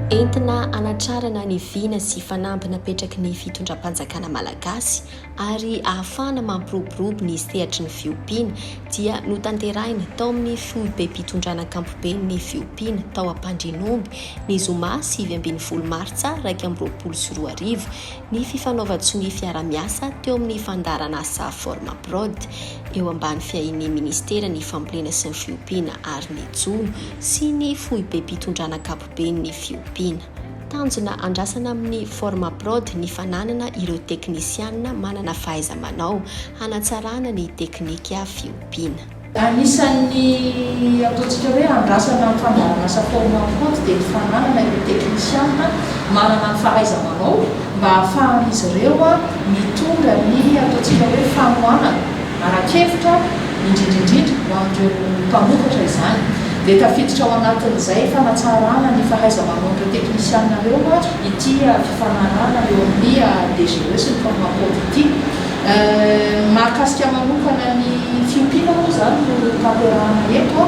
Entina hanatrarana ny vina sy fanamby napetraky ny fitondram-panjakana malagasy ary ahafahana mampiroborobo ny sehatry ny fiompiana dia notanterahina tao amin'ny foibem-pitondrana ankampoben'ny fiompiana tao Ampandrianomby ny zoma sivy ambin'ny folo martsa iraika amby roapolo sy roa arivo ny fifanaovan-tsonia fiarahamiasa teo amin'ny fandaharanasa Formaprod, eo ambany fiahian'ny Ministeran'ny Fambolena sy ny Fiompiana ary ny Jono sy ny Foibem-pitondrana Ankapoben'ny Fiompiana. Tanjona andrasana amin'ny Formaprod ny fananana ireo teknisianina manana fahaiza-manao hanatsarana ny teknika fiompiana. Anisan'ny ataontsika hoe andrasana ny fandaharan'asa forme en compte dia ny fananana ireo teknisianina manana ny fahaiza-manao mba hahafahan'izy ireo mitondra ny ataontsika hoe fanohanana ara-kevitra indrindra indrindra ho an'ireo mpamokatra izany. Dia tafiditra ao anatin'izay fanatsarana ny fahaiza-manaon'ireo teknisianina ireo ity fifanarahana eo amin'ny DGE sy ny forme en compte ity. Ny mahakasika manokana ny fiompiana moa izany no tanterahana eto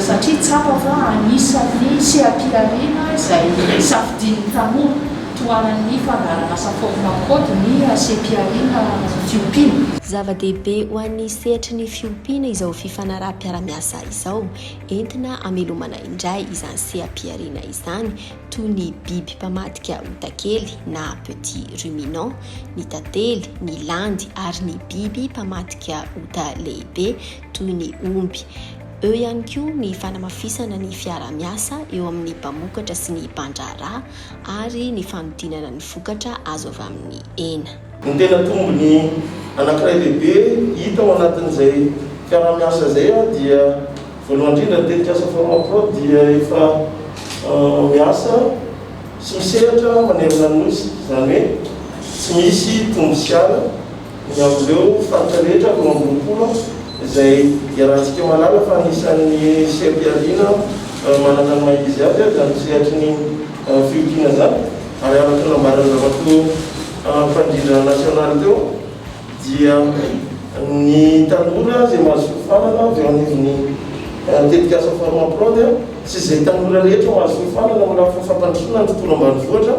satria tsapa fa anisan'ny seha-pihariana izay safidian'ny tanora tohanan'ny fandaharanasa Format Code ny seha-pihariana fiompiana. Zava-dehibe ho an'ny sehatry ny fiompiana izao fifanaraham-piara-miasa izao, entina hamelomana indray izany seha-pihariana izany, toy ny biby mpamadika otakely na petit ruminant, ny tantely, ny landy ary ny biby mpamadika ota lehibe toy ny omby. Eo ihany koa ny fanamafisana ny fiaraha-miasa eo amin'ny mpamokatra sy ny mpandraharaha ary ny fanodinana ny vokatra azo avy amin'ny hena. Ny tena tombony anankiray lehibe hita ao anatin'izay fiaraha-miasa izay dia voalohany indrindra ny tetikasa Formaprod dia efa miasa, Tsy misehatra manerana ny Nosy, izany hoe tsy misy tombo sy ala, ny amin'ireo faritra rehetra roa amby roapolo izay iarahantsika mahalala fa anisan'ny seha-pihariana manana ny maha izy azy izany sehatry ny fiompiana izany ary araka ny nambaran'ny Ramatoa Mpandrindra nasionaly teo dia ny tanora izay mahazo fiofanana avy eo anivon'ny tetikasa Forma Pro dia tsy izay tanora rehetra mahazo fiofanana amin'ny lafiny fampandrosoana ny tontolo ambanivohitra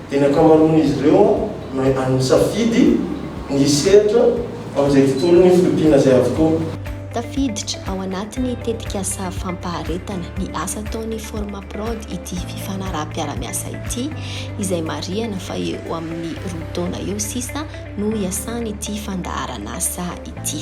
dia ny ankamaroan'izy ireo no nisafidy ny hisehatra amin'izay tontolon'ny fiompiana izay avokoa. Tafiditra ao anatin'ny tetikasa fampaharetana ny asa ataon'ny Forma Prod ity fifanaraham-piarahamiasa ity izay marihana fa eo amin'ny roa taona eo sisa no hiasany ity fandaharan'asa ity.